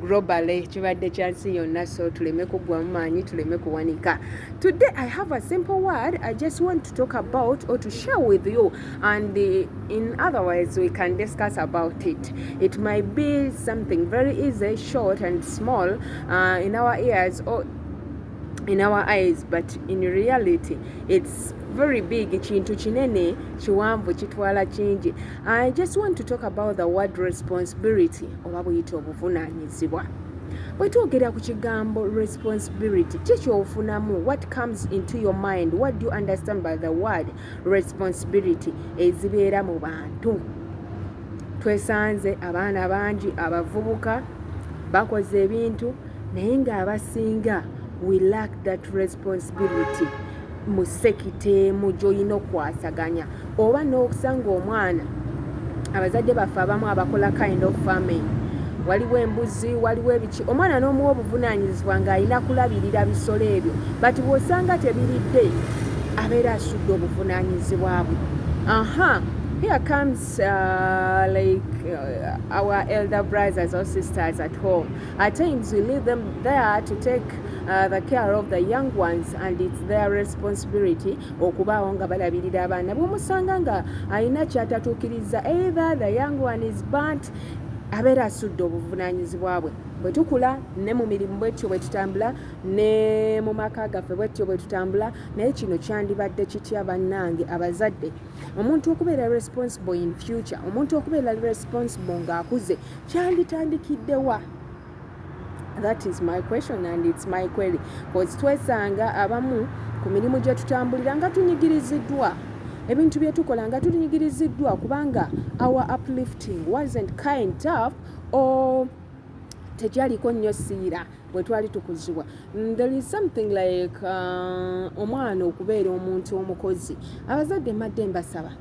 globally kibadde kya nsi yonna so tuleme kuggwamu maanyi tuleme kuwanika today i have a simple word i just want to talk about or to share with you and uh, in other words we can discuss about it it might be something very easy short and small uh, in our ears or in our eyes but in reality it's very big kintu kinene kiwanvu kitwala kingi i just want to talk about the word responsibility oba buyita obuvunaanyizibwa bwe twogera ku kigambo responsibility ki kyofunamu what comes into your mind what do you understand by the word responsibility ezibeera mu bantu twesanze abaana bangi abavubuka bakoze ebintu naye ng'abasinga we lack that responsibility mu sekita emu gy'olina okukwasaganya oba n'okusanga omwana abazadde baffe abamu abakola kind of farming waliwo embuzi waliwo ebiki omwana n'omuwa obuvunaanyizibwa ng'alina kulabirira bisolo ebyo bati bw'osanga tebiridde abeera asudde obuvunaanyizibwa bwe aha here comes uh, like uh, our elder brothers or sisters at home At times we leave them there to take uh, the care of the young ones and it's their responsibility okubaawo nga balabirira abaana bwomusanga nga alina kyatatuukiriza either the young one is burnt abeera asudde obuvunaanyizibwa bwe bwe tukula ne mu mirimu bwetyo bwe tutambula ne mu maka gaffe bwetyo bwe tutambula naye kino kyandibadde kitya bannange abazadde omuntu okubeera responsible in future omuntu okubeera responsible ng'akuze kyanditandikidde wa that is my question and it's my query bcause twesanga abamu ku mirimu gye tutambulira nga tunyigiriziddwa ebintu bye tukola nga tunyigiriziddwa kubanga our uplifting wasn't kind up or tegyaliko nnyo siira bwetwali tukuzibwa there is something like uh, omwana okubeera omuntu omukozi abazadde madde mbasaba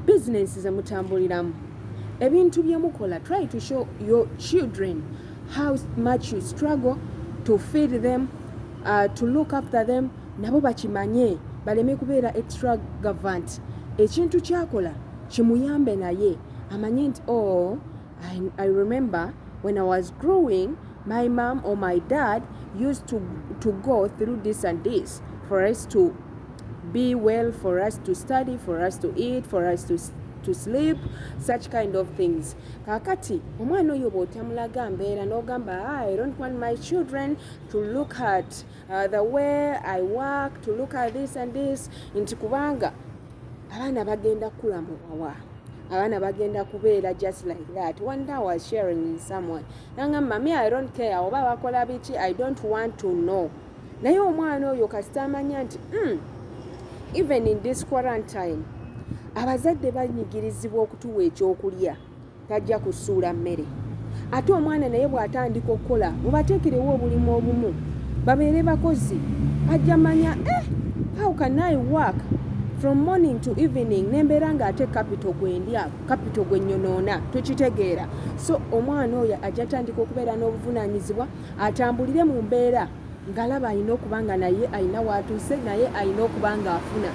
bizinensi zemutambuliramu ebintu byemukola try to show your children how much you struggle to feed them uh, to look after them nabo bakimanye baleme kubeera extravagant ekintu kyakola kimuyambe naye amanye nti o oh, I, I remember when I was growing, my mom or my dad used to, to go through this and this for us to be well, for us to study, for us to eat, for us to to sleep such kind of things kakati omwana oyo bwotamulaga mbeera nogamba ah, i don't want my children to look at uh, the way i work to look at this and this nti kubanga abaana bagenda kukula mu wawa abaana bagenda kubeera just like that one day was sharing in someone nangamba me i don't care oba bakola biki i don't want to know naye omwana oyo kasita amanya nti mm, even in this quarantine abazadde banyigirizibwa okutuwa ekyokulya Tajja kusuula mmere. Ate omwana naye bw'atandika okukola mubateekerewo obulimu obumu babeere bakozi ajja manya eh, how can I work from morning to evening nembeera nga ate capital gwendya capital gwenyonoona tukitegeera so omwana oyo ajja tandika okubeera n'obuvunanyizibwa atambulire mu mbeera ngalaba alina okuba nga naye alina watuuse naye alina okuba nga afuna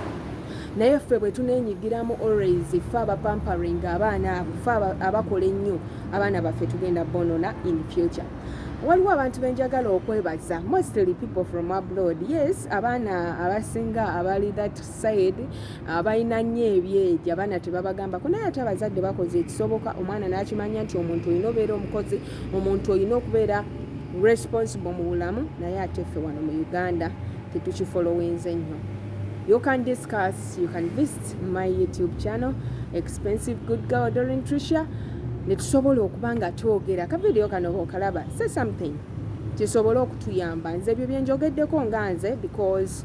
naye ffe bwe tunenyigiramu always ffe abapampering abaana abo ffe abakola ennyo abaana baffe tugenda bonona in future waliwo abantu benjagala okwebaza mostly people from abroad yes abaana abasinga abali that said ah, balina nnyo ebyeja abaana tebabagambako naye ate abazadde bakoze ekisoboka omwana n'akimanya nti omuntu olina obeera omukozi omuntu olina okubeera responsible mu bulamu naye ate ffe wano mu uganda tetukifolowinze nnyo you can discuss you can visit my youtube channel expensive good girl dorin trisha netusobola okuba nga twogera kavidiyo kano bokalaba say something kisobole okutuyamba nze ebyo byenjogeddeko nga nze because